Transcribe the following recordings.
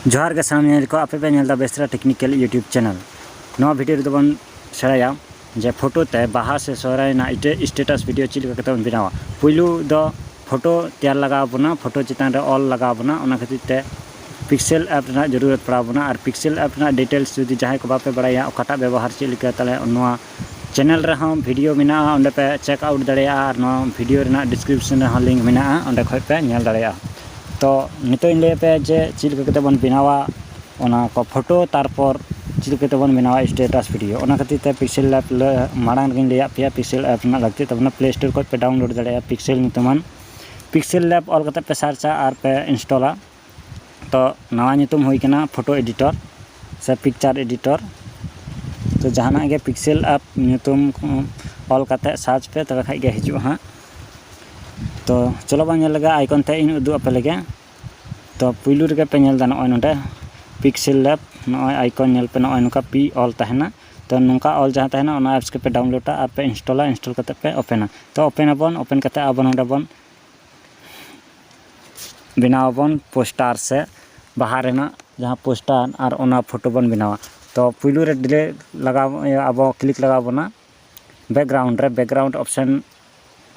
ᱡᱚᱦᱟᱨ ᱜᱮ ᱥᱟᱱᱟᱢ ᱧᱮᱧᱮᱞ ᱠᱚ ᱟᱯᱮ ᱯᱮ ᱧᱮᱞ ᱫᱟ ᱵᱮᱥᱨᱟ ᱴᱮᱠᱱᱤᱠᱮᱞ ᱤᱭᱩᱴᱩᱵᱽ ᱪᱮᱱᱮᱞ ᱱᱚᱣᱟ ᱵᱷᱤᱰᱤᱭᱳ ᱨᱮᱫᱚ ᱵᱚᱱ ᱥᱮᱬᱟᱭᱟ ᱡᱮ ᱯᱷᱳᱴᱳ ᱛᱮ ᱵᱟᱦᱟ ᱥᱮ ᱥᱚᱦᱨᱟᱭ ᱨᱮᱱᱟᱜ ᱤᱴᱟᱹ ᱥᱴᱮᱴᱟᱥ ᱵᱷᱤᱰᱤᱭᱳ ᱪᱮᱫ ᱞᱮᱠᱟ ᱠᱟᱛᱮ ᱵᱚᱱ ᱵᱮᱱᱟᱣᱟ ᱯᱩᱭᱞᱩ ᱫᱚ ᱯᱷᱳᱴᱳ ᱛᱮᱭᱟᱨ ᱞᱟᱜᱟᱣ ᱵᱚᱱᱟ ᱯᱷᱳᱴᱳ ᱪᱮᱛᱟᱱ ᱨᱮ ᱚᱞ ᱞᱟᱜᱟᱣ ᱵᱚᱱᱟ ᱚᱱᱟ ᱠᱷᱟᱹᱛᱤᱨ ᱛᱮ ᱯᱤᱠᱥᱮᱞ ᱮᱯ ᱨᱮᱱᱟᱜ ᱡᱚᱨᱩᱨᱚᱛ ᱯᱟᱲᱟᱣ ᱵᱚᱱᱟ ᱟᱨ ᱯᱤᱠᱥᱮᱞ ᱮᱯ ᱨᱮᱱᱟᱜ ᱰᱤᱴᱮᱞᱥ ᱡᱩᱫᱤ ᱡᱟᱦᱟᱸᱭ ᱠᱚ ᱵᱟᱯᱮ ᱵᱟᱲᱟᱭᱟ ᱚᱠᱟᱴᱟᱜ ᱵᱮᱵᱚᱦᱟᱨ ᱪᱮᱫ ᱞᱮᱠᱟ ᱛᱟᱦᱚᱞᱮ ᱱᱚᱣᱟ ᱪᱮᱱᱮᱞ ᱨᱮᱦᱚᱸ ᱵᱷᱤᱰᱤᱭᱳ ᱢᱮᱱᱟᱜᱼᱟ ᱚᱸᱰᱮ ᱯᱮ ᱪᱮᱠ ᱟᱣᱩᱴ ᱫᱟᱲᱮᱭᱟᱜᱼᱟ ᱟᱨ ᱱᱚᱣᱟ ᱵᱷᱤᱰᱤᱭᱳ ᱨᱮᱱᱟᱜ ᱰᱤᱥᱠᱨᱤᱯᱥᱚᱱ ᱨᱮᱦᱚᱸ ᱞᱤᱝᱠ ᱢᱮᱱᱟᱜᱼᱟ ᱚᱸᱰᱮ ᱠᱷᱚᱱ ᱯᱮ ᱧᱮᱞ ᱫᱟᱲᱮᱭᱟᱜᱼᱟ ᱛᱚ ᱱᱤᱛᱚᱜ ᱤᱧ ᱞᱟᱹᱭ ᱟᱯᱮᱭᱟ ᱡᱮ ᱪᱮᱫ ᱞᱮᱠᱟ ᱠᱟᱛᱮᱫ ᱵᱚᱱ ᱵᱮᱱᱟᱣᱟ ᱚᱱᱟ ᱠᱚ ᱯᱷᱳᱴᱳ ᱛᱟᱨᱯᱚᱨ ᱪᱮᱫ ᱞᱮᱠᱟ ᱠᱟᱛᱮᱫ ᱵᱚᱱ ᱵᱮᱱᱟᱣᱟ ᱥᱴᱮᱴᱟᱥ ᱵᱷᱤᱰᱤᱭᱳ ᱚᱱᱟ ᱠᱷᱟᱹᱛᱤᱨ ᱛᱮ ᱯᱤᱠᱥᱮᱞ ᱞᱮᱵᱽ ᱢᱟᱲᱟᱝ ᱨᱮᱜᱮᱧ ᱞᱟᱹᱭᱟᱫ ᱯᱮᱭᱟ ᱯᱤᱠᱥᱮᱞ ᱮᱯ ᱨᱮᱱᱟᱜ ᱞᱟᱹᱠᱛᱤᱜ ᱛᱟᱵᱚᱱᱟ ᱯᱞᱮ ᱥᱴᱳᱨ ᱠᱷᱚᱱ ᱯᱮ ᱰᱟᱣᱩᱱᱞᱳᱰ ᱫᱟᱲᱮᱭᱟᱜᱼᱟ ᱯᱤᱠᱥᱮᱞ ᱧᱩᱛᱩᱢᱟᱱ ᱯᱤᱠᱥᱮᱞ ᱞᱮᱵᱽ ᱚᱞ ᱠᱟᱛᱮᱫ ᱯᱮ ᱥᱟᱨᱪᱼᱟ ᱟᱨ ᱯᱮ ᱤᱱᱥᱴᱚᱞᱟ ᱛᱚ ᱱᱟᱣᱟ ᱧᱩᱛᱩᱢ ᱦᱩᱭ ᱠᱟᱱᱟ ᱯᱷᱳᱴᱳ ᱮᱰᱤᱴᱚᱨ ᱥᱮ ᱯᱤᱠᱪᱟᱨ ᱮᱰᱤᱴᱚᱨ ᱛᱚ ᱡᱟᱦᱟᱱᱟᱜ ᱜᱮ ᱯᱤᱠᱥᱮᱞ ᱮᱯ ᱧᱩᱛᱩᱢ ᱚᱞ ᱠᱟᱛᱮᱫ ᱥᱟᱨᱪ ᱯᱮ ᱛᱚᱵᱮ ᱠᱷᱟᱱ ᱜᱮ ᱦᱤᱡᱩᱜᱼᱟ ᱦᱟᱸᱜ ᱛᱚ ᱪᱚᱞᱚ ᱵᱚᱱ ᱧᱮᱞ ᱞᱮᱜᱮ ᱟᱭᱠᱚᱱ ᱛᱮᱫ ᱤᱧ ᱩᱫᱩᱜ ᱟᱯᱮ ᱞᱮᱜᱮ ᱛᱚ ᱯᱩᱭᱞᱩ ᱨᱮᱜᱮ ᱯᱮ ᱧᱮᱞ ᱮᱫᱟ ᱱᱚᱜᱼᱚᱭ ᱱᱚᱰᱮ ᱯᱤᱠᱥᱮᱞ ᱞᱮᱵ ᱱᱚᱜᱼᱚᱭ ᱟᱭᱠᱚᱱ ᱧᱮᱞ ᱯᱮ ᱱᱚᱜᱼᱚᱭ ᱱᱚᱝᱠᱟ ᱯᱤ ᱚᱞ ᱛᱟᱦᱮᱱᱟ ᱛᱚ ᱱᱚᱝᱠᱟ ᱚᱞ ᱡᱟᱦᱟᱸ ᱛᱟᱦᱮᱱᱟ ᱚᱱᱟ ᱮᱯᱥ ᱜᱮᱯᱮ ᱰᱟᱣᱩᱱᱞᱳᱰᱟ ᱟᱨ ᱯᱮ ᱤᱱᱥᱴᱚᱞᱟ ᱤᱱᱥᱴᱚᱞ ᱠᱟᱛᱮᱫ ᱯᱮ ᱳᱯᱮᱱᱟ ᱛᱚ ᱳᱯᱮᱱ ᱟᱵᱚᱱ ᱳᱯᱮᱱ ᱠᱟᱛᱮᱫ ᱟᱵᱚ ᱱᱚᱰᱮ ᱵᱚᱱ ᱵᱮᱱᱟᱣ ᱟᱵᱚᱱ ᱯᱳᱥᱴᱟᱨ ᱥᱮ ᱵᱟᱦᱟ ᱨᱮᱱᱟᱜ ᱡᱟᱦᱟᱸ ᱯᱳᱥᱴᱟᱨ ᱟᱨ ᱚᱱᱟ ᱯᱷᱳᱴᱳ ᱵᱚᱱ ᱵᱮᱱᱟᱣᱟ ᱛᱚ ᱯᱩᱭᱞᱩ ᱨᱮ ᱰᱤᱞᱮ ᱞᱟᱜᱟᱣ ᱤᱭᱟᱹ ᱟᱵᱚ ᱠᱞᱤᱠ ᱞᱟᱜᱟᱣ ᱵᱚᱱᱟ ᱵᱮᱠᱜᱨᱟᱣᱩᱱᱰ ᱨᱮ ᱵᱮᱠᱜᱨᱟᱣᱩᱱᱰ ᱚᱯᱷᱥᱮᱱ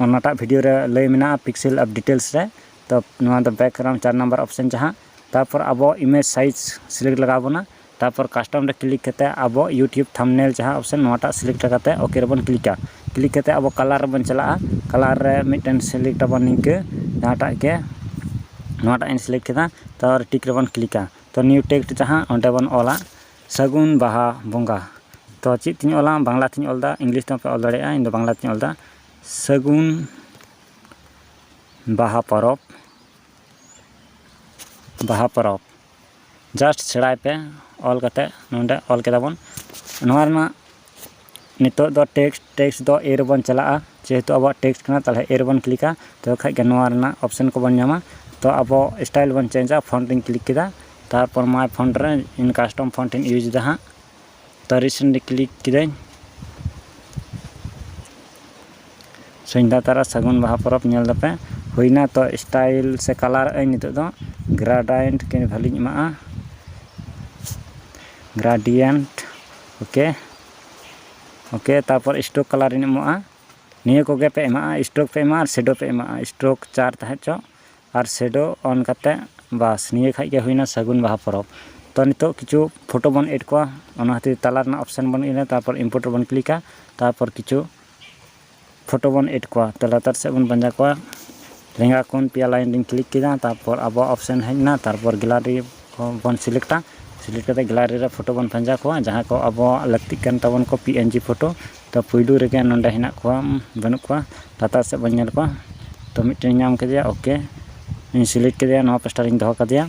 ᱚᱱᱟᱴᱟᱜ ᱵᱷᱤᱰᱤᱭᱳ ᱨᱮ ᱞᱟᱹᱭ ᱢᱮᱱᱟᱜᱼᱟ ᱯᱤᱠᱥᱮᱞ ᱟᱨ ᱰᱤᱴᱮᱞᱥ ᱨᱮ ᱛᱚ ᱱᱚᱣᱟ ᱫᱚ ᱵᱮᱠᱜᱨᱟᱣᱩᱱᱰ ᱪᱟᱨ ᱱᱟᱢᱵᱟᱨ ᱚᱯᱷᱥᱮᱱ ᱡᱟᱦᱟᱸ ᱛᱟᱨᱯᱚᱨ ᱟᱵᱚ ᱤᱢᱮᱡᱽ ᱥᱟᱭᱤᱡᱽ ᱥᱤᱞᱮᱠᱴ ᱞᱟᱜᱟᱣ ᱵᱚᱱᱟ ᱛᱟᱨᱯᱚᱨ ᱠᱟᱥᱴᱚᱢ ᱨᱮ ᱠᱞᱤᱠ ᱠᱟᱛᱮ ᱟᱵᱚ ᱤᱭᱩᱴᱩᱵᱽ ᱛᱷᱟᱢᱵᱽᱱᱮᱞ ᱡᱟᱦᱟᱸ ᱚᱯᱥᱮᱱ ᱱᱚᱣᱟᱴᱟᱜ ᱥᱤᱞᱮᱠᱴ ᱠᱟᱛᱮ ᱳᱠᱮ ᱨᱮᱵᱚᱱ ᱠᱞᱤᱠᱟ ᱠᱞᱤᱠ ᱠᱟᱛᱮ ᱟᱵᱚ ᱠᱟᱞᱟᱨ ᱨᱮᱵᱚᱱ ᱪᱟᱞᱟᱜᱼᱟ ᱠᱟᱞᱟᱨ ᱨᱮ ᱢᱤᱫᱴᱮᱱ ᱥᱤᱞᱮᱠᱴ ᱟᱵᱚᱱ ᱱᱤᱝᱠᱟᱹ ᱡᱟᱦᱟᱸᱴᱟᱜ ᱜᱮ ᱱᱚᱣᱟᱴᱟᱜ ᱤᱧ ᱥᱤᱞᱮᱠᱴ ᱠᱮᱫᱟ ᱛᱟᱨᱯᱚᱨ ᱴᱤᱠ ᱨᱮᱵᱚᱱ ᱠᱞᱤᱠᱟ ᱛᱚ ᱱᱤᱭᱩ ᱴᱮᱠᱥᱴ ᱡᱟᱦᱟᱸ ᱚᱸᱰᱮ ᱵᱚᱱ ᱚᱞᱟ ᱥᱟᱹᱜᱩᱱ ᱵᱟᱦᱟ ᱵᱚᱸᱜᱟ ᱛᱚ ᱪᱮᱫ ᱛᱤᱧ ᱚᱞᱟ ᱵᱟᱝᱞᱟ ᱛᱤᱧ ᱚᱞᱫᱟ ᱤᱝᱞᱤᱥ ᱛᱮᱦᱚᱸ ᱯᱮ ᱚᱞ ᱫᱟᱲᱮᱭᱟᱜᱼᱟ ᱤᱧ ᱫᱚ ᱵᱟᱝᱞᱟ ᱛᱤᱧ ᱚᱞᱫᱟ ᱥᱟᱹᱜᱩᱱ ᱵᱟᱦᱟ ᱯᱚᱨᱚᱵᱽ ᱵᱟᱦᱟ ᱯᱚᱨᱚᱵᱽ ᱡᱟᱥᱴ ᱥᱮᱬᱟᱭ ᱯᱮ ᱚᱞ ᱠᱟᱛᱮ ᱱᱚᱰᱮ ᱚᱞ ᱠᱮᱫᱟ ᱵᱚᱱ ᱱᱚᱣᱟ ᱨᱮᱱᱟᱜ ᱱᱤᱛᱚᱜ ᱫᱚ ᱴᱮᱠᱥᱴ ᱴᱮᱠᱥᱴ ᱫᱚ ᱮ ᱨᱮᱵᱚᱱ ᱪᱟᱞᱟᱜᱼᱟ ᱡᱮᱦᱮᱛᱩ ᱟᱵᱚᱣᱟᱜ ᱴᱮᱠᱥᱴ ᱠᱟᱱᱟ ᱛᱟᱦᱚᱞᱮ ᱮ ᱨᱮᱵᱚᱱ ᱠᱞᱤᱠᱟ ᱛᱚᱵᱮ ᱠᱷᱟᱡ ᱜᱮ ᱱᱚᱣᱟ ᱨᱮᱱᱟᱜ ᱚᱯᱥᱮᱱ ᱠᱚᱵᱚᱱ ᱧᱟᱢᱟ ᱛᱚ ᱟᱵᱚ ᱥᱴᱟᱭᱤᱞ ᱵᱚᱱ ᱪᱮᱧᱡᱟ ᱯᱷᱳᱱᱴ ᱨᱮᱧ ᱠᱞᱤᱠ ᱠᱮᱫᱟ ᱛᱟᱨᱯᱚᱨ ᱢᱟᱭ ᱯᱷᱳᱱᱴ ᱨᱮ ᱤᱧ ᱠᱟᱥᱴᱚᱢ ᱯᱷᱳᱱᱴ ᱤᱧ ᱤᱭᱩᱡᱽ ᱮᱫᱟ ᱦᱟᱸᱜ ᱛᱟᱹᱨᱤ ᱥᱮᱱ ᱨᱮ ᱠᱞᱤᱠ ᱠᱤᱫᱟᱹᱧ ᱥᱚᱱᱫᱷᱟ ᱛᱟᱨᱟ ᱥᱟᱹᱜᱩᱱ ᱵᱟᱦᱟ ᱯᱚᱨᱚᱵᱽ ᱧᱮᱞ ᱫᱟᱯᱮ ᱦᱩᱭᱱᱟ ᱛᱚ ᱥᱴᱟᱭᱤᱞ ᱥᱮ ᱠᱟᱞᱟᱨ ᱟᱹᱧ ᱱᱤᱛᱚᱜ ᱫᱚ ᱜᱨᱟᱰᱟᱭᱮᱱᱴ ᱠᱤ ᱵᱷᱟᱹᱞᱤᱧ ᱮᱢᱟᱜᱼᱟ ᱜᱨᱟᱰᱤᱭᱮᱱᱴ ᱳᱠᱮ ᱳᱠᱮ ᱛᱟᱨᱯᱚᱨ ᱥᱴᱳᱠ ᱠᱟᱞᱟᱨᱤᱧ ᱮᱢᱚᱜᱼᱟ ᱱᱤᱭᱟᱹ ᱠᱚᱜᱮ ᱯᱮ ᱮᱢᱟᱜᱼᱟ ᱥᱴᱳᱠ ᱯᱮ ᱮᱢᱟᱜᱼᱟ ᱥᱮᱰᱳ ᱯᱮ ᱮᱢᱟᱜᱼᱟ ᱥᱴᱳᱠ ᱪᱟᱨ ᱛᱟᱦᱮᱸ ᱦᱚᱪᱚᱜ ᱟᱨ ᱥᱮᱰᱳ ᱚᱱ ᱠᱟᱛᱮᱫ ᱵᱟᱥ ᱱᱤᱭᱟᱹ ᱠᱷᱟᱱ ᱜᱮ ᱦᱩᱭᱮᱱᱟ ᱥᱟᱹᱜᱩᱱ ᱵᱟᱦᱟ ᱯᱚᱨᱚᱵᱽ ᱛᱚ ᱱᱤᱛᱚᱜ ᱠᱤᱪᱷᱩ ᱯᱷᱳᱴᱳ ᱵᱚᱱ ᱮᱰ ᱠᱚᱣᱟ ᱚᱱᱟ ᱠᱷᱟᱹᱛᱤᱨ ᱛᱟᱞᱟ ᱨᱮᱱᱟᱜ ᱚᱯᱷᱥᱮᱱ ᱵᱚᱱ ᱤᱭᱟᱹᱭᱟ ᱛᱟᱨᱯᱚᱨ ᱤᱢᱯᱳᱨᱴ ᱨᱮᱵᱚᱱ ᱠᱞᱤᱠᱟ ᱛᱟᱨᱯᱚᱨ ᱠᱤᱪᱷᱩ ᱯᱷᱳᱴᱳ ᱵᱚᱱ ᱮᱰ ᱠᱚᱣᱟ ᱛᱚ ᱞᱟᱛᱟᱨ ᱥᱮᱫ ᱵᱚᱱ ᱯᱟᱸᱡᱟ ᱠᱚᱣᱟ ᱞᱮᱸᱜᱟ ᱠᱷᱚᱱ ᱯᱮᱭᱟ ᱞᱟᱭᱤᱱ ᱨᱤᱧ ᱠᱞᱤᱠ ᱠᱮᱫᱟ ᱛᱟᱨᱯᱚᱨ ᱟᱵᱚᱣᱟᱜ ᱚᱯᱷᱥᱮᱱ ᱦᱮᱡ ᱮᱱᱟ ᱛᱟᱨᱯᱚᱨ ᱜᱮᱞᱟᱨᱤ ᱵᱚᱱ ᱥᱤᱞᱮᱠᱴᱟ ᱥᱤᱞᱮᱠᱴ ᱠᱟᱛᱮᱫ ᱜᱮᱞᱟᱨᱤ ᱨᱮ ᱯᱷᱳᱴᱳ ᱵᱚᱱ ᱯᱟᱸᱡᱟ ᱠᱚᱣᱟ ᱡᱟᱦᱟᱸ ᱠᱚ ᱟᱵᱚᱣᱟᱜ ᱞᱟᱹᱠᱛᱤᱜ ᱠᱟᱱ ᱛᱟᱵᱚᱱ ᱠᱚ ᱯᱤ ᱮᱱ ᱡᱤ ᱯᱷᱳᱴᱳ ᱛᱚ ᱯᱳᱭᱞᱳ ᱨᱮᱜᱮ ᱱᱚᱰᱮ ᱦᱮᱱᱟᱜ ᱠᱚᱣᱟ ᱵᱟᱹᱱᱩᱜ ᱠᱚᱣᱟ ᱞᱟᱛᱟᱨ ᱥᱮᱫ ᱵᱚᱱ ᱧᱮᱞ ᱠᱚᱣᱟ ᱛᱚ ᱢᱤᱫᱴᱮᱱ ᱧᱟᱢ ᱠᱮᱫᱮᱭᱟ ᱳᱠᱮ ᱤᱧ ᱥᱤᱞᱮᱠᱴ ᱠᱮᱫᱮᱭᱟ ᱱᱚᱣᱟ ᱯᱟᱥᱴᱟ ᱨᱤᱧ ᱫᱚᱦᱚ ᱠᱟᱫᱮᱭᱟ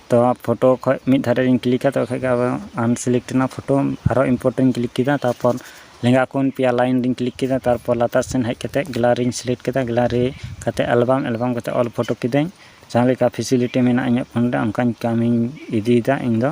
ᱛᱚ ᱯᱷᱳᱴᱳ ᱠᱷᱚᱡ ᱢᱤᱫ ᱫᱷᱟᱨᱮ ᱨᱤᱧ ᱠᱞᱤᱠᱟ ᱛᱚᱵᱮ ᱠᱷᱟᱡ ᱜᱮ ᱟᱱᱥᱤᱞᱮᱠᱴ ᱮᱱᱟ ᱯᱷᱳᱴᱳ ᱟᱨᱚ ᱤᱢᱯᱳᱨᱴ ᱨᱤᱧ ᱠᱞᱤᱠ ᱠᱮᱫᱟ ᱛᱟᱨᱯᱚᱨ ᱞᱮᱸᱜᱟ ᱠᱷᱚᱱ ᱯᱮᱭᱟ ᱞᱟᱭᱤᱱ ᱨᱤᱧ ᱠᱞᱤᱠ ᱠᱮᱫᱟ ᱛᱟᱨᱯᱚᱨ ᱞᱟᱛᱟᱨ ᱥᱮᱫ ᱦᱮᱡ ᱠᱟᱛᱮᱫ ᱜᱮᱞᱟᱨᱤᱧ ᱥᱤᱞᱮᱠᱴ ᱠᱮᱫᱟ ᱜᱮᱞᱟᱨᱤ ᱠᱟᱛᱮᱫ ᱮᱞᱵᱟᱢ ᱮᱞᱵᱟᱢ ᱠᱟᱛᱮᱫ ᱚᱞ ᱯᱷᱳᱴᱳ ᱠᱤᱫᱟᱹᱧ ᱡᱟᱦᱟᱸ ᱞᱮᱠᱟ ᱯᱷᱮᱥᱤᱞᱤᱴᱤ ᱢᱮᱱᱟᱜᱼᱟ ᱤᱧᱟᱹᱜ ᱯᱷᱳᱱ ᱨᱮ ᱚᱱᱠᱟᱧ ᱠᱟᱹᱢᱤᱧ ᱤᱫᱤᱭᱮᱫᱟ ᱤᱧᱫᱚ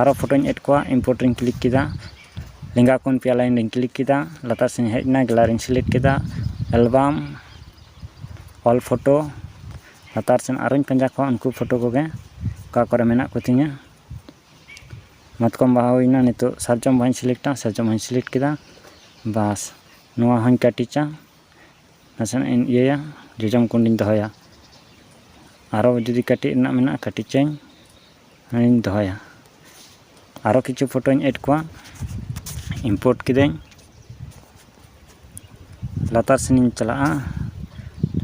ᱟᱨᱚ ᱯᱷᱳᱴᱳᱧ ᱮᱰ ᱠᱚᱣᱟ ᱤᱢᱯᱳᱨᱴ ᱨᱮᱧ ᱠᱞᱤᱠ ᱠᱮᱫᱟ ᱞᱮᱸᱜᱟ ᱠᱷᱚᱱ ᱯᱮᱭᱟ ᱞᱟᱭᱤᱱ ᱨᱮᱧ ᱠᱞᱤᱠ ᱠᱮᱫᱟ ᱞᱟᱛᱟᱨ ᱥᱮᱫ ᱤᱧ ᱦᱮᱡ ᱮᱱᱟ ᱜᱮᱞᱟᱨᱤ ᱨᱮᱧ ᱥᱤᱞᱮᱠᱴ ᱠᱮᱫᱟ ᱮᱞᱵᱟᱢ ᱚᱞ ᱯᱷᱳᱴᱳ ᱞᱟᱛᱟᱨ ᱥᱮᱫ ᱟᱨᱚᱧ ᱯᱟᱸᱡᱟ ᱠᱚᱣᱟ ᱩᱱᱠᱩ ᱯᱷᱳᱴᱳ ᱠᱚᱜᱮ ᱚᱠᱟ ᱠᱚᱨᱮᱫ ᱢᱮᱱᱟᱜ ᱠᱚᱛᱤᱧᱟ ᱢᱟᱛᱠᱚᱢ ᱵᱟᱦᱟ ᱦᱩᱭᱱᱟ ᱱᱤᱛᱚᱜ ᱥᱟᱨᱡᱚᱢ ᱵᱟᱦᱟᱧ ᱥᱤᱞᱮᱠᱴᱟ ᱥᱟᱨᱡᱚᱢ ᱵᱟᱦᱟᱧ ᱥᱤᱞᱮᱠᱴ ᱠᱮᱫᱟ ᱵᱟᱥ ᱱᱚᱣᱟ ᱦᱚᱸᱧ ᱠᱟᱹᱴᱤᱪᱟ ᱱᱟᱥᱮᱱᱟᱜ ᱤᱧ ᱤᱭᱟᱹᱭᱟ ᱡᱚᱡᱚᱢ ᱠᱩᱸᱰᱤᱧ ᱫᱚᱦᱚᱭᱟ ᱟᱨᱚ ᱡᱩᱫᱤ ᱠᱟᱹᱴᱤᱡ ᱨᱮᱱᱟᱜ ᱢᱮᱱᱟᱜᱼᱟ ᱠᱟᱹᱴᱤᱪᱟᱹᱧ ᱦᱮᱸᱧ ᱫᱚᱦᱚᱭᱟ ᱟᱨᱚ ᱠᱤᱪᱷᱩ ᱯᱷᱳᱴᱳᱧ ᱮᱰ ᱠᱚᱣᱟ ᱤᱢᱯᱳᱨᱴ ᱠᱤᱫᱟᱹᱧ ᱞᱟᱛᱟᱨ ᱥᱮᱱᱤᱧ ᱪᱟᱞᱟᱜᱼᱟ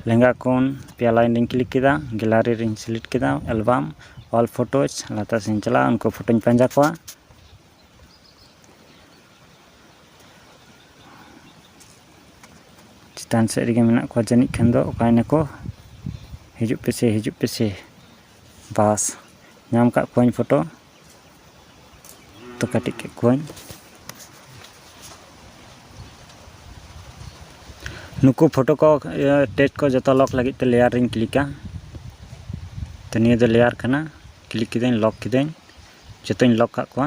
ᱞᱮᱸᱜᱟ ᱠᱷᱚᱱ ᱯᱮᱭᱟ ᱞᱟᱭᱤᱱ ᱨᱤᱧ ᱠᱞᱤᱠ ᱠᱮᱫᱟ ᱜᱮᱞᱟᱨᱤ ᱨᱤᱧ ᱥᱤᱞᱮᱠᱴ ᱠᱮᱫᱟ ᱮᱞᱵᱟᱢ ᱚᱞ ᱯᱷᱳᱴᱳᱡᱽ ᱞᱟᱛᱟᱨ ᱥᱮᱱᱤᱧ ᱪᱟᱞᱟᱜᱼᱟ ᱩᱱᱠᱩ ᱯᱷᱳᱴᱳᱧ ᱯᱟᱸᱡᱟ ᱠᱚᱣᱟ ᱪᱮᱛᱟᱱ ᱥᱮᱫ ᱨᱮᱜᱮ ᱢᱮᱱᱟᱜ ᱠᱚᱣᱟ ᱡᱟᱹᱱᱤᱡ ᱠᱷᱟᱱ ᱫᱚ ᱚᱠᱟᱭ ᱱᱟᱠᱚ ᱦᱤᱡᱩᱜ ᱯᱮᱥᱮ ᱦᱤᱡᱩᱜ ᱯᱮᱥᱮ ᱵᱟᱥ ᱧᱟᱢ ᱠᱟᱜ ᱠᱚᱣᱟᱹᱧ ᱯᱷᱳᱴᱳ ᱛᱚ ᱠᱟᱹᱴᱤᱡ ᱠᱮᱫ ᱠᱚᱣᱟᱹᱧ ᱱᱩᱠᱩ ᱯᱷᱳᱴᱳ ᱠᱚ ᱴᱮᱡᱽ ᱠᱚ ᱡᱚᱛᱚ ᱞᱚᱠ ᱞᱟᱹᱜᱤᱫ ᱛᱮ ᱞᱮᱭᱟᱨ ᱨᱤᱧ ᱠᱞᱤᱠᱟ ᱛᱚ ᱱᱤᱭᱟᱹ ᱫᱚ ᱞᱮᱭᱟᱨ ᱠᱟᱱᱟ ᱠᱞᱤᱠ ᱠᱤᱫᱟᱹᱧ ᱞᱚᱠ ᱠᱤᱫᱟᱹᱧ ᱡᱚᱛᱚᱧ ᱞᱚᱠ ᱠᱟᱜ ᱠᱚᱣᱟ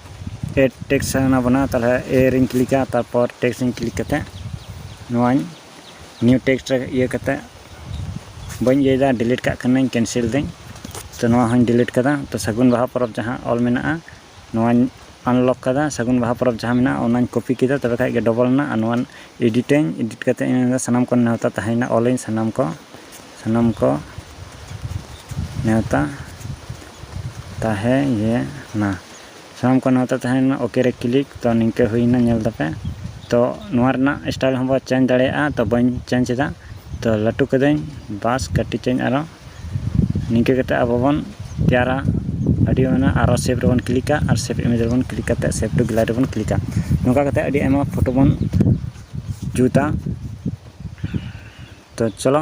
ᱮᱰ ᱴᱮᱠᱥ ᱥᱟᱱᱟ ᱵᱚᱱᱟ ᱛᱟᱦᱚᱞᱮ ᱮ ᱨᱤᱧ ᱠᱞᱤᱠᱟ ᱛᱟᱨᱯᱚᱨ ᱴᱮᱠᱥ ᱤᱧ ᱠᱞᱤᱠ ᱠᱟᱛᱮᱫ ᱱᱚᱣᱟᱧ ᱱᱤᱭᱩ ᱴᱮᱠᱥ ᱨᱮ ᱤᱭᱟᱹ ᱠᱟᱛᱮᱫ ᱵᱟᱹᱧ ᱤᱭᱟᱹᱭᱮᱫᱟ ᱰᱤᱞᱤᱴ ᱠᱟᱜ ᱠᱟᱹᱱᱟᱹᱧ ᱠᱮᱱᱥᱮᱞ ᱫᱟᱹᱧ ᱛᱚ ᱱᱚᱣᱟ ᱦᱚᱸᱧ ᱰᱤᱞᱤᱴ ᱠᱟᱫᱟ ᱛᱚ ᱥᱟᱹᱜᱩᱱ ᱵᱟᱦᱟ ᱯᱚᱨᱚᱵᱽ ᱡᱟᱦᱟᱸ ᱚᱞ ᱢᱮᱱᱟᱜᱼᱟ ᱱᱚᱣᱟᱧ ᱟᱱᱞᱚᱠ ᱠᱟᱫᱟ ᱥᱟᱹᱜᱩᱱ ᱵᱟᱦᱟ ᱯᱚᱨᱚᱵᱽ ᱡᱟᱦᱟᱸ ᱢᱮᱱᱟᱜᱼᱟ ᱚᱱᱟᱧ ᱠᱚᱯᱤ ᱠᱮᱫᱟ ᱛᱚᱵᱮ ᱠᱷᱟᱱ ᱜᱮ ᱰᱚᱵᱚᱞ ᱮᱱᱟ ᱟᱨ ᱱᱚᱣᱟ ᱮᱰᱤᱴᱟᱹᱧ ᱮᱰᱤᱴ ᱠᱟᱛᱮᱫ ᱤᱧ ᱢᱮᱱᱫᱟ ᱥᱟᱱᱟᱢ ᱠᱚ ᱱᱮᱣᱛᱟ ᱛᱟᱦᱮᱸᱭᱮᱱᱟ ᱚᱞᱟᱹᱧ ᱥᱟᱱᱟᱢ ᱠᱚ ᱥᱟᱱᱟᱢ ᱠᱚ ᱱᱮᱣᱛᱟ ᱛᱟᱦᱮᱸᱭᱮᱱᱟ ᱥᱟᱱᱟᱢ ᱠᱚ ᱱᱮᱣᱛᱟ ᱛᱟᱦᱮᱸᱭᱮᱱᱟ ᱳᱠᱮ ᱨᱮ ᱠᱞᱤᱠ ᱛᱚ ᱱᱤᱝᱠᱟᱹ ᱦᱩᱭᱮᱱᱟ ᱧᱮᱞ ᱫᱟᱯᱮ ᱛᱚ ᱱᱚᱣᱟ ᱨᱮᱱᱟᱜ ᱥᱴᱟᱭᱤᱞ ᱦᱚᱸᱵᱚ ᱪᱮᱧᱡᱽ ᱫᱟᱲᱮᱭᱟᱜᱼᱟ ᱛᱚ ᱵᱟᱹᱧ ᱪᱮᱧᱡᱽ ᱮᱫᱟ ᱛᱚ ᱞᱟᱹᱴᱩ ᱠᱮᱫᱟᱹᱧ ᱵᱟᱥ ᱠᱟᱹᱴᱤᱡᱽ ᱟᱹᱧ ᱟᱨᱚ ᱱᱤᱝᱠᱟᱹ ᱠᱟᱛᱮᱫ ᱟᱵᱚ ᱵᱚᱱ ᱛᱮᱭᱟᱨᱟ ᱟᱹᱰᱤ ᱚᱱᱟ ᱟᱨᱚ ᱥᱮᱵᱷ ᱨᱮᱵᱚᱱ ᱠᱞᱤᱠᱟ ᱟᱨ ᱥᱮᱵᱷ ᱤᱢᱮᱡᱽ ᱨᱮᱵᱚᱱ ᱠᱞᱤᱠ ᱠᱟᱛᱮᱫ ᱥᱮᱵᱷ ᱴᱩ ᱜᱮᱞᱟᱨᱤ ᱨᱮᱵᱚᱱ ᱠᱞᱤᱠᱟ ᱱᱚᱝᱠᱟ ᱠᱟᱛᱮᱫ ᱟᱹᱰᱤ ᱟᱭᱢᱟ ᱯᱷᱳᱴᱳ ᱵᱚᱱ ᱡᱩᱛᱟ ᱛᱚ ᱪᱚᱞᱚ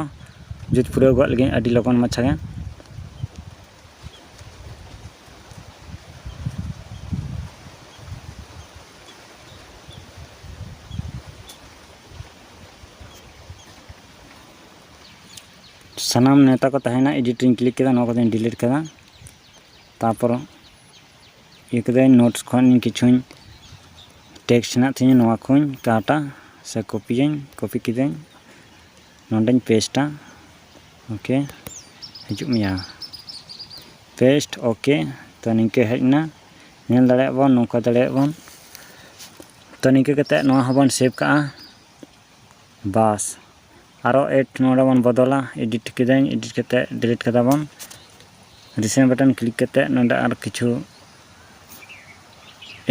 ᱡᱩᱛ ᱯᱩᱨᱟᱹᱣ ᱜᱚᱫ ᱞᱮᱜᱮ ᱟᱹᱰᱤ ᱞᱚᱜᱚᱱ ᱢᱟᱪᱷᱟ ᱜᱮ ᱥᱟᱱᱟᱢ ᱱᱮᱛᱟ ᱠᱚ ᱛᱟᱦᱮᱱᱟ ᱮᱰᱤᱴ ᱨᱤᱧ ᱠᱞᱤᱠ ᱠᱮᱫᱟ ᱱᱚᱣᱟ ᱠᱚᱫᱚᱧ ᱰᱤᱞᱤᱴ ᱠᱮᱫᱟ ᱛᱟᱨᱯᱚᱨ ᱤᱭᱟᱹ ᱠᱮᱫᱟᱹᱧ ᱱᱳᱴᱥ ᱠᱷᱚᱱ ᱠᱤᱪᱷᱩᱧ ᱴᱮᱠᱥᱴ ᱦᱮᱱᱟᱜ ᱛᱤᱧᱟᱹ ᱱᱚᱣᱟ ᱠᱚᱧ ᱠᱟᱴᱟ ᱥᱮ ᱠᱚᱯᱤᱭᱟᱹᱧ ᱠᱚᱯᱤ ᱠᱤᱫᱟᱹᱧ ᱱᱚᱰᱮᱧ ᱯᱮᱥᱴᱟ ᱳᱠᱮ ᱦᱤᱡᱩᱜ ᱢᱮᱭᱟ ᱯᱮᱥᱴ ᱳᱠᱮ ᱛᱚ ᱱᱤᱝᱠᱟᱹ ᱦᱮᱡ ᱮᱱᱟ ᱧᱮᱞ ᱫᱟᱲᱮᱭᱟᱜ ᱵᱚᱱ ᱱᱚᱝᱠᱟ ᱫᱟᱲᱮᱭᱟᱜ ᱵᱚᱱ ᱛᱚ ᱱᱤᱝᱠᱟᱹ ᱠᱟᱛᱮᱫ ᱱᱚᱣᱟ ᱦᱚᱸᱵᱚᱱ ᱥᱮᱵᱷ ᱠᱟᱜᱼᱟ ᱵᱟᱥ ᱟᱨᱚ ᱮᱰ ᱱᱚᱰᱮ ᱵᱚᱱ ᱵᱚᱫᱚᱞᱟ ᱮᱰᱤᱴ ᱠᱮᱫᱟᱹᱧ ᱮᱰᱤᱴ ᱠᱟᱛᱮ ᱰᱤᱞᱤᱴ ᱠᱮᱫᱟ ᱵᱚᱱ ᱨᱤᱥᱮᱱᱴ ᱵᱟᱴᱚᱱ ᱠᱞᱤᱠ ᱠᱟᱛᱮ ᱱᱚᱰᱮ ᱟᱨ ᱠᱤᱪᱷᱩ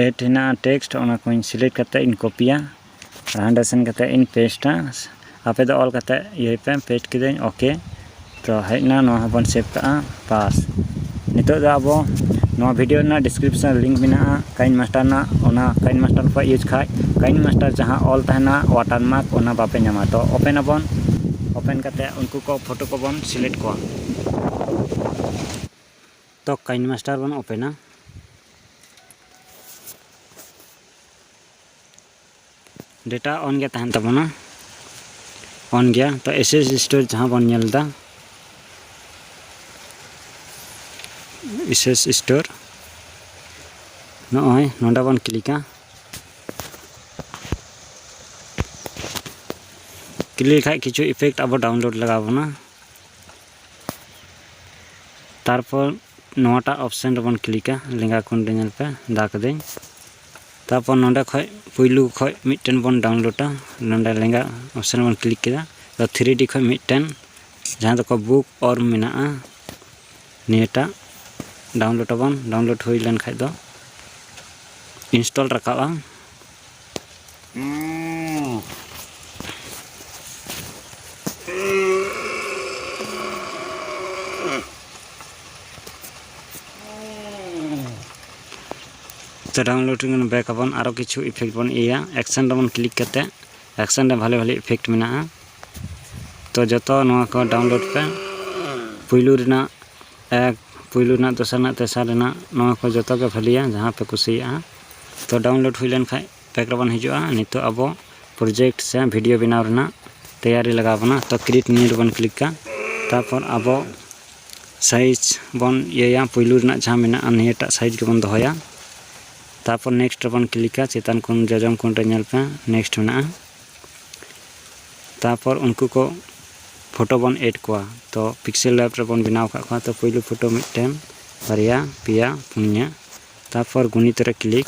ᱮᱰ ᱦᱮᱱᱟᱜᱼᱟ ᱴᱮᱠᱥᱴ ᱚᱱᱟ ᱠᱚᱧ ᱥᱤᱞᱮᱠᱴ ᱠᱟᱛᱮ ᱤᱧ ᱠᱚᱯᱤᱭᱟ ᱟᱨ ᱦᱟᱸᱰᱮ ᱥᱮᱱ ᱠᱟᱛᱮ ᱤᱧ ᱯᱮᱥᱴᱟ ᱟᱯᱮ ᱫᱚ ᱚᱞ ᱠᱟᱛᱮ ᱤᱭᱟᱹᱭ ᱯᱮ ᱯᱮᱥᱴ ᱠᱮᱫᱟᱹᱧ ᱳᱠᱮ ᱛᱚ ᱦᱮᱡ ᱮᱱᱟ ᱱᱚᱣᱟ ᱦᱚᱸᱵᱚᱱ ᱥᱮᱵᱷ ᱠᱟᱜᱼᱟ ᱵᱟᱥ ᱱᱤᱛᱚᱜ ᱫᱚ ᱟᱵᱚ ᱱᱚᱣᱟ ᱵᱷᱤᱰᱭᱳ ᱨᱮᱱᱟᱜ ᱰᱤᱥᱠᱨᱤᱯᱥᱚᱱ ᱞᱤᱝᱠ ᱢᱮᱱᱟᱜᱼᱟ ᱠᱟᱭᱤᱱ ᱢᱟᱥᱴᱟᱨ ᱨᱮᱱᱟᱜ ᱚᱱᱟ ᱠᱟᱭᱤᱱ ᱢᱟᱥᱴᱟᱨ ᱠᱚ ᱤᱭᱩᱡᱽ ᱠᱷᱟᱱ ᱠᱟᱭᱤᱱ ᱢᱟᱥᱴᱟᱨ ᱡᱟᱦᱟᱸ ᱚᱞ ᱛᱟᱦᱮᱱᱟ ᱚᱣᱟᱴᱟᱨ ᱢᱟᱨᱠ ᱚᱱᱟ ᱵᱟᱯᱮ ᱧᱟᱢᱟ ᱛᱚ ᱳᱯᱮᱱ ᱟᱵᱚᱱ ᱳᱯᱮᱱ ᱠᱟᱛᱮᱫ ᱩᱱᱠᱩ ᱠᱚ ᱯᱷᱳᱴᱳ ᱠᱚᱵᱚᱱ ᱥᱤᱞᱮᱠᱴ ᱠᱚᱣᱟ ᱛᱚ ᱠᱟᱭᱤᱱ ᱢᱟᱥᱴᱟᱨ ᱵᱚᱱ ᱳᱯᱮᱱᱟ ᱰᱮᱴᱟ ᱚᱱ ᱜᱮ ᱛᱟᱦᱮᱱ ᱛᱟᱵᱚᱱᱟ ᱚᱱ ᱜᱮᱭᱟ ᱛᱚ ᱮᱥ ᱮᱥ ᱥᱴᱳᱨ ᱡᱟᱦᱟᱸ ᱵᱚᱱ ᱧᱮᱞ ᱮᱫᱟ ᱮᱥ ᱮᱥ ᱥᱴᱳᱨ ᱱᱚᱜᱼᱚᱭ ᱱᱚᱰᱮ ᱵᱚᱱ ᱠᱞᱤᱠᱟ ᱠᱞᱤᱠ ᱠᱷᱟᱡ ᱠᱤᱪᱷᱩ ᱤᱯᱷᱮᱠᱴ ᱟᱵᱚ ᱰᱟᱣᱩᱱᱞᱳᱰ ᱞᱟᱜᱟᱣ ᱵᱚᱱᱟ ᱛᱟᱨᱯᱚᱨ ᱱᱚᱣᱟᱴᱟᱜ ᱚᱯᱥᱮᱱ ᱨᱮᱵᱚᱱ ᱠᱞᱤᱠᱟ ᱞᱮᱸᱜᱟ ᱠᱚᱱ ᱨᱮ ᱧᱮᱞ ᱯᱮ ᱫᱟ ᱠᱟᱹᱫᱟᱹᱧ ᱛᱟᱨᱯᱚᱨ ᱱᱚᱰᱮ ᱠᱷᱚᱡ ᱯᱩᱭᱞᱩ ᱠᱷᱚᱡ ᱢᱤᱫᱴᱮᱱ ᱵᱚᱱ ᱰᱟᱣᱩᱱᱞᱳᱰᱟ ᱱᱚᱰᱮ ᱞᱮᱸᱜᱟ ᱚᱯᱥᱮᱱ ᱵᱚᱱ ᱠᱞᱤᱠ ᱠᱮᱫᱟ ᱛᱚ ᱛᱷᱨᱤ ᱰᱤ ᱠᱷᱚᱡ ᱢᱤᱫᱴᱮᱱ ᱡᱟᱦᱟᱸ ᱫᱚᱠᱚ ᱵᱩᱠ ᱚᱨ ᱢᱮᱱᱟᱜᱼᱟ ᱱᱤᱭᱟᱹᱴᱟᱜ ᱰᱟᱣᱩᱱᱞᱳᱰ ᱟᱵᱚᱱ ᱰᱟᱣᱩᱱᱞᱳᱰ ᱦᱩᱭ ᱞᱮᱱ ᱠᱷᱟᱡ ᱫᱚ ᱤᱱᱥᱴᱚᱞ ᱨᱟᱠᱟᱵᱼᱟ ᱛᱚ ᱰᱟᱣᱩᱱᱞᱳᱰ ᱨᱮᱜᱮ ᱵᱚᱱ ᱵᱮᱠ ᱟᱵᱚᱱ ᱟᱨᱚ ᱠᱤᱪᱷᱩ ᱤᱯᱷᱮᱠᱴ ᱵᱚᱱ ᱤᱭᱟᱹᱭᱟ ᱮᱠᱥᱮᱱ ᱨᱮᱵᱚᱱ ᱠᱞᱤᱠ ᱠᱟᱛᱮ ᱮᱠᱥᱮᱱ ᱨᱮ ᱵᱷᱟᱞᱮ ᱵᱷᱟᱞᱮ ᱤᱯᱷᱮᱠᱴ ᱢᱮᱱᱟᱜᱼᱟ ᱛᱚ ᱡᱚᱛᱚ ᱱᱚᱣᱟ ᱠᱚ ᱰᱟᱣᱩᱱᱞᱳᱰ ᱯᱮ ᱯᱩᱭᱞᱩ ᱨᱮᱱᱟᱜ ᱮᱠ ᱯᱩᱭᱞᱩ ᱨᱮᱱᱟᱜ ᱫᱚᱥᱟᱨ ᱨᱮᱱᱟᱜ ᱛᱮᱥᱟᱨ ᱨᱮᱱᱟᱜ ᱱᱚᱣᱟ ᱠᱚ ᱡᱚᱛᱚ ᱜᱮ ᱵᱷᱟᱞᱮᱭᱟ ᱡᱟᱦᱟᱸ ᱯᱮ ᱠᱩᱥᱤᱭᱟᱜᱼᱟ ᱛᱚ ᱰᱟᱣᱩᱱᱞᱳᱰ ᱦᱩᱭ ᱞᱮᱱ ᱠᱷᱟᱡ ᱯᱮᱠ ᱨᱮᱵᱚᱱ ᱦᱤᱡᱩᱜᱼᱟ ᱱᱤᱛᱚᱜ ᱟᱵᱚ ᱯᱨᱚᱡᱮᱠᱴ ᱥᱮ ᱵᱷᱤᱰᱤᱭᱳ ᱵᱮᱱᱟᱣ ᱨᱮᱱᱟᱜ ᱛᱮᱭᱟᱨᱤ ᱞᱟᱜᱟᱣ ᱵᱚᱱᱟ ᱛᱚ ᱠᱨᱤᱭᱮᱴ ᱱᱤᱭᱩ ᱨᱮᱵᱚᱱ ᱠᱞᱤᱠᱟ ᱛᱟᱨᱯᱚᱨ ᱟᱵᱚ ᱥᱟᱭᱤᱡᱽ ᱵᱚᱱ ᱤᱭᱟᱹᱭᱟ ᱯᱩᱭᱞᱩ ᱨᱮᱱᱟᱜ ᱡᱟᱦᱟᱸ ᱢᱮᱱᱟᱜᱼᱟ ᱱᱤᱭᱟᱹᱴᱟᱜ ᱥᱟᱭᱤᱡᱽ ᱜᱮᱵᱚᱱ ᱫᱚᱦᱚᱭᱟ ᱛᱟᱨᱯᱚᱨ ᱱᱮᱠᱥᱴ ᱨᱮᱵᱚᱱ ᱠᱞᱤᱠᱟ ᱪᱮᱛᱟᱱ ᱠᱷᱚᱱ ᱡᱚᱡᱚᱢ ᱠᱷᱚᱱ ᱨᱮ ᱧᱮᱞ ᱯᱮ ᱱᱮᱠᱥᱴ ᱢᱮᱱᱟᱜᱼᱟ ᱛᱟᱨᱯᱚᱨ ᱩᱱᱠᱩ ᱠᱚ ᱯᱷᱳᱴᱳ ᱵᱚᱱ ᱮᱰ ᱠᱚᱣᱟ ᱛᱚ ᱯᱤᱠᱥᱮᱞ ᱞᱮᱵ ᱨᱮᱵᱚᱱ ᱵᱮᱱᱟᱣ ᱠᱟᱜ ᱠᱚᱣᱟ ᱛᱚ ᱯᱩᱭᱞᱩ ᱯᱷᱳᱴᱳ ᱢᱤᱫᱴᱮᱱ ᱵᱟᱨᱭᱟ ᱯᱮᱭᱟ ᱯᱩᱱᱭᱟ ᱛᱟᱨᱯᱚᱨ ᱜᱩᱱᱤᱛ ᱨᱮ ᱠᱞᱤᱠ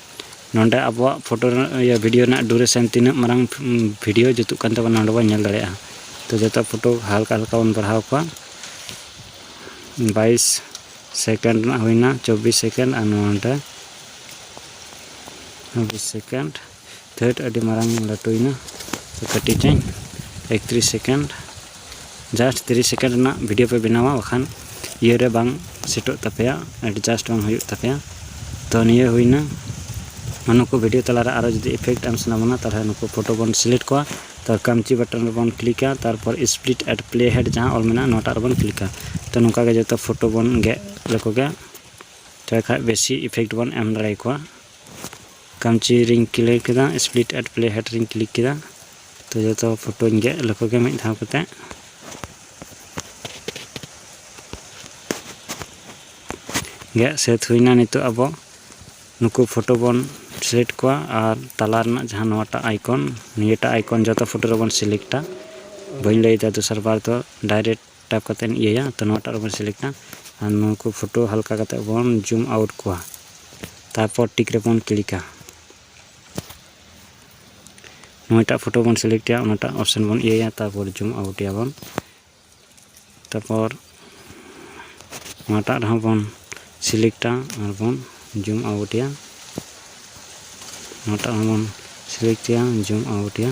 ᱱᱚᱰᱮ ᱟᱵᱚᱣᱟᱜ ᱯᱷᱳᱴᱳ ᱤᱭᱟᱹ ᱵᱷᱤᱰᱤᱭᱳ ᱨᱮᱱᱟᱜ ᱰᱩᱨᱮᱥᱚᱱ ᱛᱤᱱᱟᱹᱜ ᱢᱟᱨᱟᱝ ᱵᱷᱤᱰᱤᱭᱳ ᱡᱩᱛᱩᱜ ᱠᱟᱱ ᱛᱟᱵᱚᱱᱟ ᱱᱚᱰᱮ ᱵᱚᱱ ᱧᱮᱞ ᱫᱟᱲᱮᱭᱟᱜᱼᱟ ᱛᱚ ᱡᱚᱛᱚ ᱯᱷᱳᱴᱳ ᱦᱟᱞᱠᱟ ᱦᱟᱞᱠᱟ ᱵᱚᱱ ᱵᱟᱲᱦᱟᱣ ᱠᱚᱣᱟ ᱵᱟᱭᱤᱥ ᱥᱮᱠᱮᱱᱰ ᱨᱮᱱᱟᱜ ᱦᱩᱭᱱᱟ ᱪᱚᱵᱵᱤᱥ ᱥᱮᱠᱮᱱᱰ ᱟᱨ ᱱᱚᱰᱮ ᱪᱚᱵᱵᱤᱥ ᱥᱮᱠᱮᱱᱰ ᱛᱷᱟᱹᱴ ᱟᱹᱰᱤ ᱢᱟᱨᱟᱝ ᱞᱟᱹᱴᱩᱭᱮᱱᱟ ᱠᱟᱹᱴᱤᱡᱟᱹᱧ ᱮᱠᱛᱨᱤᱥ ᱥᱮᱠᱮᱱᱰ ᱡᱟᱥᱴ ᱛᱤᱨᱤᱥ ᱥᱮᱠᱮᱱᱰ ᱨᱮᱱᱟᱜ ᱵᱷᱤᱰᱤᱭᱳ ᱯᱮ ᱵᱮᱱᱟᱣᱟ ᱵᱟᱠᱷᱟᱱ ᱤᱭᱟᱹᱨᱮ ᱵᱟᱝ ᱥᱮᱴᱚᱜ ᱛᱟᱯᱮᱭᱟ ᱮᱰᱡᱟᱥᱴ ᱵᱟᱝ ᱦᱩᱭᱩᱜ ᱛᱟᱯᱮᱭᱟ ᱛᱚ ᱱᱤᱭᱟᱹ ᱦᱩᱭᱱᱟ ᱱᱩᱠᱩ ᱵᱷᱤᱰᱤᱭᱳ ᱛᱟᱞᱟᱨᱮ ᱟᱨᱚ ᱡᱩᱫᱤ ᱤᱯᱷᱮᱠᱴ ᱮᱢ ᱥᱟᱱᱟ ᱵᱚᱱᱟ ᱛᱟᱦᱚᱞᱮ ᱱᱩᱠᱩ ᱯᱷᱳᱴᱳ ᱵᱚᱱ ᱥᱤᱞᱮᱠᱴ ᱠᱚᱣᱟ ᱛᱚ ᱠᱟᱢᱪᱤ ᱵᱟᱴᱚᱱ ᱨᱮᱵᱚᱱ ᱠᱞᱤᱠᱟ ᱛᱟᱨᱯᱚᱨ ᱥᱯᱞᱤᱴ ᱮᱰ ᱯᱞᱮ ᱦᱮᱰ ᱡᱟᱦᱟᱸ ᱚᱞ ᱢᱮᱱᱟᱜᱼᱟ ᱱᱚᱣᱟᱴᱟᱜ ᱨᱮᱵᱚᱱ ᱠᱞᱤᱠᱟ ᱛᱚ ᱱᱚᱝᱠᱟ ᱜᱮ ᱡᱚᱛᱚ ᱯᱷᱳᱴᱳ ᱵᱚᱱ ᱜᱮᱫ ᱞᱮᱠᱚ ᱜᱮ ᱛᱚᱵᱮ ᱠᱷᱟᱱ ᱵᱮᱥᱤ ᱤᱯᱷᱮᱠᱴ ᱵᱚᱱ ᱮᱢ ᱫᱟᱲᱮᱭᱟᱠᱚᱣᱟ ᱠᱟᱢᱪᱤ ᱨᱤᱧ ᱠᱞᱤᱠ ᱠᱮᱫᱟ ᱥᱯᱞᱤᱴ ᱮᱴ ᱯᱞᱮ ᱦᱮᱰ ᱨᱤᱧ ᱠᱞᱤᱠ ᱠᱮᱫᱟ ᱛᱚ ᱡᱚᱛᱚ ᱯᱷᱳᱴᱳᱧ ᱜᱮᱫ ᱞᱮᱠᱚ ᱜᱮ ᱢᱤᱫ ᱫᱷᱟᱣ ᱠᱟᱛᱮ ᱜᱮᱫ ᱥᱟᱹᱛ ᱦᱩᱭᱱᱟ ᱱᱤᱛᱚᱜ ᱟᱵᱚ ᱱᱩᱠᱩ ᱯᱷᱳᱴᱳ ᱵᱚᱱ ᱥᱤᱞᱮᱠᱴ ᱠᱚᱣᱟ ᱟᱨ ᱛᱟᱞᱟ ᱨᱮᱱᱟᱜ ᱡᱟᱦᱟᱸ ᱱᱚᱣᱟᱴᱟᱜ ᱟᱭᱠᱚᱱ ᱱᱤᱭᱟᱹᱴᱟᱜ ᱟᱭᱠᱚᱱ ᱡᱚᱛᱚ ᱯᱷᱳᱴᱳ ᱨᱮᱵᱚᱱ ᱥᱤᱞᱮᱠᱴᱟ ᱵᱟᱹᱧ ᱞᱟᱹᱭᱫᱟ ᱫᱚᱥᱟᱨ ᱵᱟᱨ ᱫᱚ ᱰᱟᱭᱨᱮᱠᱴ ᱴᱟᱯ ᱠᱟᱛᱮ ᱤᱭᱟᱹᱭᱟ ᱛᱚ ᱱᱚᱣᱟᱴᱟᱜ ᱨᱮᱵᱚᱱ ᱥᱤᱞᱮᱠᱴᱟ ᱟᱨ ᱱᱚᱣᱟ ᱠᱚ ᱯᱷᱳᱴᱳ ᱦᱟᱞᱠᱟ ᱠᱟᱛᱮ ᱵᱚᱱ ᱡᱩᱢ ᱟᱣᱩᱴ ᱠᱚᱣᱟ ᱛᱟᱨᱯᱚᱨ ᱴᱤᱠ ᱨᱮᱵᱚᱱ ᱠᱞᱤᱠᱟ ᱱᱚᱣᱟᱴᱟᱜ ᱯᱷᱳᱴᱳ ᱵᱚᱱ ᱥᱤᱞᱮᱠᱴᱟ ᱚᱱᱟᱴᱟᱜ ᱚᱯᱥᱮᱱ ᱵᱚᱱ ᱤᱭᱟᱹᱭᱟ ᱛᱟᱨᱯᱚᱨ ᱡᱩᱢ ᱟᱣᱩᱴ ᱮᱭᱟᱵᱚᱱ ᱛᱟᱨᱯᱚᱨ ᱱᱚᱣᱟᱴᱟᱜ ᱨᱮᱦᱚᱸ ᱵᱚᱱ ᱥᱤᱞᱮᱠᱴᱟ ᱟᱨ ᱵᱚᱱ ᱡᱩᱢ ᱟᱣᱩᱴ ᱮᱭᱟ ᱱᱚᱣᱟᱴᱟᱜ ᱦᱚᱸ ᱵᱚᱱ ᱥᱤᱞᱮᱠᱴ ᱮᱭᱟ ᱡᱩᱢ ᱟᱣᱩᱴ ᱮᱭᱟ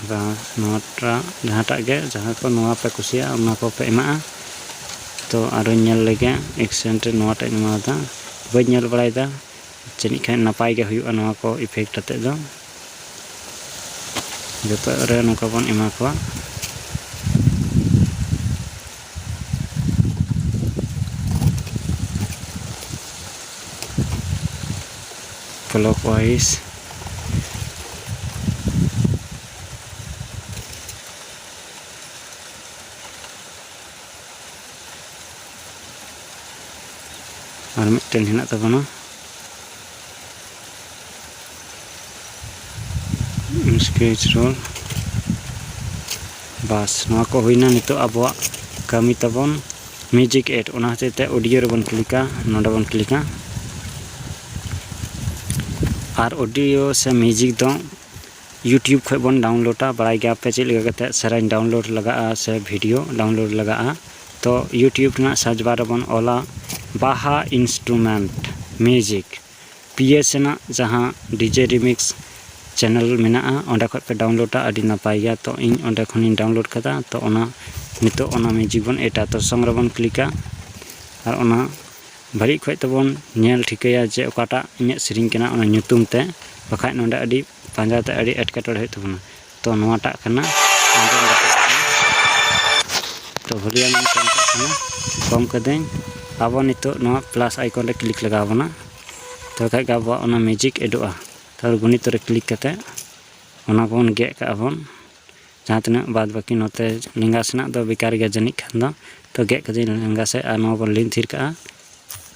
ᱟᱫᱚ ᱱᱚᱣᱟᱴᱟᱜ ᱡᱟᱦᱟᱸᱴᱟᱜ ᱜᱮ ᱡᱟᱦᱟᱸ ᱠᱚ ᱱᱚᱣᱟ ᱯᱮ ᱠᱩᱥᱤᱭᱟᱜᱼᱟ ᱚᱱᱟ ᱠᱚᱯᱮ ᱮᱢᱟᱜᱼᱟ ᱛᱚ ᱟᱨᱚᱧ ᱧᱮᱞ ᱞᱮᱜᱮ ᱮᱠᱥᱮᱱᱴ ᱨᱮ ᱱᱚᱣᱟᱴᱟᱜ ᱤᱧ ᱮᱢᱟᱣᱟᱫᱟ ᱵᱟᱹᱧ ᱧᱮᱞ ᱵᱟᱲᱟᱭᱮᱫᱟ ᱡᱟᱹᱱᱤᱡ ᱠᱷᱟᱱ ᱱᱟᱯᱟᱭ ᱜᱮ ᱦᱩᱭᱩᱜᱼᱟ ᱱᱚᱣᱟ ᱠᱚ ᱤᱯᱷᱮᱠᱴ ᱟᱛᱮᱫ ᱫᱚ ᱡᱚᱛᱚ ᱨᱮ ᱱᱚᱝᱠᱟ ᱵᱚᱱ ᱮᱢᱟ ᱠᱚᱣᱟ ᱠᱞᱚᱠ ᱳᱣᱟᱭᱤᱡ ᱟᱨ ᱢᱤᱫᱴᱮᱱ ᱦᱮᱱᱟᱜ ᱛᱟᱵᱚᱱᱟ ᱥᱠᱮᱪ ᱨᱳᱞ ᱵᱟᱥ ᱱᱚᱣᱟ ᱠᱚ ᱦᱩᱭᱱᱟ ᱱᱤᱛᱚᱜ ᱟᱵᱚᱣᱟᱜ ᱠᱟᱹᱢᱤ ᱛᱟᱵᱚᱱ ᱢᱤᱭᱩᱡᱤᱠ ᱮᱰ ᱚᱱᱟ ᱦᱚᱛᱮᱡ ᱛᱮ ᱚᱰᱤᱭᱳ ᱨᱮᱵᱚᱱ ᱠᱞᱤᱠᱟ ᱱᱚᱰᱮ ᱵᱚᱱ ᱠᱞᱤᱠᱟ ᱟᱨ ᱚᱰᱤᱭᱳ ᱥᱮ ᱢᱤᱭᱩᱡᱤᱠ ᱫᱚ ᱤᱭᱩᱴᱤᱭᱩᱵᱽ ᱠᱷᱚᱡ ᱵᱚᱱ ᱰᱟᱣᱩᱱᱞᱳᱰᱟ ᱵᱟᱲᱟᱭ ᱜᱮᱭᱟᱯᱮ ᱪᱮᱫ ᱞᱮᱠᱟ ᱠᱟᱛᱮ ᱥᱮᱨᱮᱧ ᱰᱟᱣᱩᱱᱞᱳᱰ ᱞᱟᱜᱟᱜᱼᱟ ᱥᱮ ᱵᱷᱤᱰᱤᱭᱳ ᱰᱟᱣᱩᱱᱞᱳᱰ ᱞᱟᱜᱟᱜᱼᱟ ᱛᱚ ᱤᱭᱩᱴᱤᱭᱩᱵᱽ ᱨᱮᱱᱟᱜ ᱥᱟᱨᱪ ᱵᱟᱨ ᱨᱮᱵᱚᱱ ᱚᱞᱟ ᱵᱟᱦᱟ ᱤᱱᱥᱴᱨᱩᱢᱮᱱᱴ ᱢᱤᱭᱩᱡᱤᱠ ᱯᱤᱭᱮᱥ ᱨᱮᱱᱟᱜ ᱡᱟᱦᱟᱸ ᱰᱤᱡᱮ ᱨᱤᱢᱤᱠᱥ ᱪᱮᱱᱮᱞ ᱢᱮᱱᱟᱜᱼᱟ ᱚᱸᱰᱮ ᱠᱷᱚᱱ ᱯᱮ ᱰᱟᱣᱩᱱᱞᱳᱰᱟ ᱟᱹᱰᱤ ᱱᱟᱯᱟᱭ ᱜᱮᱭᱟ ᱛᱚ ᱤᱧ ᱚᱸᱰᱮ ᱠᱷᱚᱱᱤᱧ ᱰᱟᱣᱩᱱᱞᱳᱰ ᱠᱟᱫᱟ ᱛᱚ ᱚᱱᱟ ᱱᱤᱛᱚᱜ ᱚᱱᱟ ᱢᱤᱭᱩᱡᱤᱠ ᱵᱚᱱ ᱮᱰᱟ ᱛᱚ ᱥᱚᱝ ᱨᱮᱵᱚᱱ ᱠᱞᱤᱠᱟ ᱟᱨ ᱚᱱᱟ ᱵᱷᱟᱹᱞᱤ ᱚᱠᱚᱡ ᱛᱮᱵᱚᱱ ᱧᱮᱞ ᱴᱷᱤᱠᱟᱹᱭᱟ ᱡᱮ ᱚᱠᱟᱴᱟᱜ ᱤᱧᱟᱹᱜ ᱥᱮᱨᱮᱧ ᱠᱟᱱᱟ ᱚᱱᱟ ᱧᱩᱛᱩᱢ ᱛᱮᱫ ᱵᱟᱠᱷᱟᱱ ᱱᱚᱸᱰᱮ ᱟᱹᱰᱤ ᱯᱟᱸᱡᱟ ᱛᱮ ᱟᱹᱰᱤ ᱮᱴᱠᱮᱴᱚᱬᱮ ᱦᱩᱭᱩᱜ ᱛᱟᱵᱚᱱᱟ ᱛᱚ ᱱᱚᱣᱟᱴᱟᱜ ᱠᱟᱱᱟ ᱛᱚ ᱵᱷᱚᱞᱤᱭᱟᱢ ᱤᱧ ᱠᱚᱢ ᱠᱟᱜ ᱠᱟᱱᱟ ᱠᱚᱢ ᱠᱟᱹᱫᱟᱹᱧ ᱟᱵᱚ ᱱᱤᱛᱚᱜ ᱱᱚᱣᱟ ᱯᱞᱟᱥ ᱟᱭᱠᱚᱱ ᱨᱮ ᱠᱞᱤᱠ ᱞᱟᱜᱟᱣ ᱵᱚᱱᱟ ᱛᱚᱵᱮ ᱠᱷᱟᱡ ᱜᱮ ᱟᱵᱚᱣᱟᱜ ᱚᱱᱟ ᱢᱤᱭᱩᱡᱤᱠ ᱮᱰᱚᱜᱼᱟ ᱛᱟᱨᱯᱚᱨ ᱜᱩᱱᱤᱛᱚ ᱨᱮ ᱠᱞᱤᱠ ᱠᱟᱛᱮ ᱚᱱᱟ ᱵᱚᱱ ᱜᱮᱫ ᱠᱟᱜᱼᱟ ᱵᱚᱱ ᱡᱟᱦᱟᱸ ᱛᱤᱱᱟᱹᱜ ᱵᱟᱫ ᱵᱟᱹᱠᱤ ᱱᱚᱛᱮ ᱞᱮᱸᱜᱟ ᱥᱮᱱᱟᱜ ᱫᱚ ᱵᱮᱠᱟᱨ ᱜᱮᱭᱟ ᱡᱟᱹᱱᱤᱡ ᱠᱷᱟᱱ ᱫᱚ ᱛᱚ ᱜᱮᱫ ᱠᱟᱹᱫᱟᱹᱧ ᱞᱮᱸᱜᱟ ᱥᱮᱫ ᱟᱨ ᱱᱚᱣᱟ ᱵᱚᱱ ᱞᱤᱱ ᱛᱷᱤᱨ ᱠᱟᱜᱼᱟ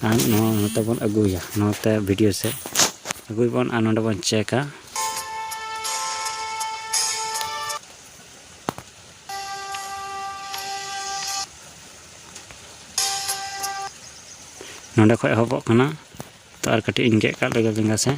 ᱟᱨ ᱱᱚᱣᱟ ᱱᱚᱛᱮ ᱵᱚᱱ ᱟᱹᱜᱩᱭᱟ ᱱᱚᱛᱮ ᱵᱷᱤᱰᱤᱭᱳ ᱥᱮᱫ ᱟᱹᱜᱩᱭ ᱵᱚᱱ ᱟᱨ ᱱᱚᱰᱮ ᱵᱚᱱ ᱪᱮᱠᱟ ᱱᱚᱰᱮ ᱠᱷᱚᱡ ᱮᱦᱚᱵᱚᱜ ᱠᱟᱱᱟ ᱛᱚ ᱟᱨ ᱠᱟᱹᱴᱤᱡ ᱤᱧ ᱜᱮᱫ ᱠᱟᱜ ᱞᱮᱜᱮ ᱞᱮᱸᱜᱟ ᱥᱮᱫ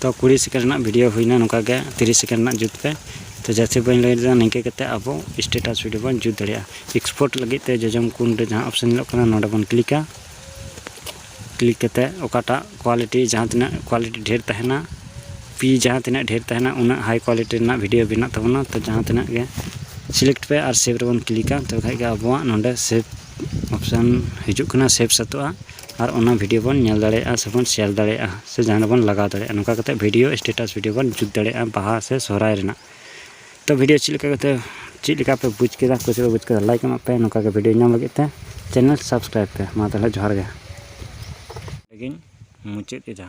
ᱛᱚ ᱠᱩᱲᱤ ᱥᱮᱠᱮᱱᱰ ᱨᱮᱱᱟᱜ ᱵᱷᱤᱰᱤᱭᱳ ᱦᱩᱭᱱᱟ ᱱᱚᱝᱠᱟ ᱜᱮ ᱛᱤᱨᱤᱥ ᱥᱮᱠᱮᱱᱰ ᱨᱮᱱᱟᱜ ᱡᱩᱛ ᱯᱮ ᱛᱚ ᱡᱟᱹᱥᱛᱤ ᱵᱟᱹᱧ ᱞᱟᱹᱭ ᱞᱮᱫᱟ ᱱᱤᱝᱠᱟᱹ ᱠᱟᱛᱮ ᱟᱵᱚ ᱥᱴᱮᱴᱟᱥ ᱵᱷᱤᱰᱤᱭᱳ ᱵᱚᱱ ᱡᱩᱛ ᱫᱟᱲᱮᱭᱟᱜᱼᱟ ᱮᱠᱥᱯᱳᱨᱴ ᱞᱟᱹᱜᱤᱫ ᱛᱮ ᱡᱚᱡᱚᱢ ᱠᱩᱱ ᱨᱮ ᱡᱟᱦᱟᱸ ᱚᱯᱥᱮᱱ ᱧᱮᱞᱚᱜ ᱠᱟᱱᱟ ᱱᱚᱰᱮ ᱵᱚᱱ ᱠᱞᱤᱠᱟ ᱠᱞᱤᱠ ᱠᱟᱛᱮ ᱚᱠᱟᱴᱟᱜ ᱠᱳᱣᱟᱞᱤᱴᱤ ᱡᱟᱦᱟᱸ ᱛᱤᱱᱟᱹᱜ ᱠᱳᱣᱟᱞᱤᱴᱤ ᱰᱷᱮᱨ ᱛᱟᱦᱮᱱᱟ ᱯᱤ ᱡᱟᱦᱟᱸ ᱛᱤᱱᱟᱹᱜ ᱰᱷᱮᱨ ᱛᱟᱦᱮᱱᱟ ᱩᱱᱟᱹᱜ ᱦᱟᱭ ᱠᱳᱣᱟᱞᱤᱴᱤ ᱨᱮᱱᱟᱜ ᱵᱷᱤᱰᱤᱭᱳ ᱵᱮᱱᱟᱜ ᱛᱟᱵᱚᱱᱟ ᱛᱚ ᱡᱟᱦᱟᱸ ᱛᱤᱱᱟᱹᱜ ᱜᱮ ᱥᱤᱞᱮᱠᱴ ᱯᱮ ᱟᱨ ᱥᱮᱵᱷ ᱨᱮᱵᱚᱱ ᱠᱞᱤᱠᱟ ᱛᱚᱵᱮ ᱠᱷᱟᱡ ᱜᱮ ᱟᱵᱚᱣᱟᱜ ᱱᱚᱰᱮ ᱥᱮᱵᱷ ᱚᱯᱥᱮᱱ ᱦᱤᱡᱩᱜ ᱠᱟᱱᱟ ᱥᱮᱵᱷ ᱥᱟᱹᱛᱚᱜᱼᱟ ᱟᱨ ᱚᱱᱟ ᱵᱷᱤᱰᱤᱭᱳ ᱵᱚᱱ ᱧᱮᱞ ᱫᱟᱲᱮᱭᱟᱜᱼᱟ ᱥᱮᱵᱚᱱ ᱥᱮᱭᱟᱨ ᱫᱟᱲᱮᱭᱟᱜᱼᱟ ᱥᱮ ᱡᱟᱦᱟᱸ ᱨᱮᱵᱚᱱ ᱞᱟᱜᱟᱣ ᱫᱟᱲᱮᱭᱟᱜᱼᱟ ᱱᱚᱝᱠᱟ ᱠᱟᱛᱮᱫ ᱵᱷᱤᱰᱤᱭᱳ ᱥᱴᱮᱴᱟᱥ ᱵᱷᱤᱰᱤᱭᱳ ᱵᱚᱱ ᱡᱩᱛ ᱫᱟᱲᱮᱭᱟᱜᱼᱟ ᱵᱟᱦᱟ ᱥᱮ ᱥᱚᱦᱨᱟᱭ ᱨᱮᱱᱟᱜ ᱛᱚ ᱵᱷᱤᱰᱤᱭᱳ ᱪᱮᱫ ᱞᱮᱠᱟ ᱠᱟᱛᱮᱫ ᱪᱮᱫ ᱞᱮᱠᱟ ᱯᱮ ᱵᱩᱡᱽ ᱠᱮᱫᱟ ᱚᱠᱚᱭ ᱪᱮᱫ ᱯᱮ ᱵᱩᱡᱽ ᱠᱮᱫᱟ ᱞᱟᱭᱤᱠ ᱮᱢᱟᱜ ᱯᱮ ᱱᱚᱝᱠᱟ ᱜᱮ ᱵᱷᱤᱰᱤᱭᱳ ᱧᱟᱢ ᱞᱟᱹᱜᱤᱫ ᱛᱮ ᱪᱮᱱᱮᱞ ᱥᱟᱵᱥᱠᱨᱟᱭᱤᱵᱽ ᱯᱮ ᱢᱟ ᱛᱟᱦᱚᱞᱮ ᱡᱚᱦᱟᱨ ᱜᱮ ᱞᱟᱹᱜᱤᱫ ᱢᱩᱪᱟᱹᱫ ᱮᱫᱟ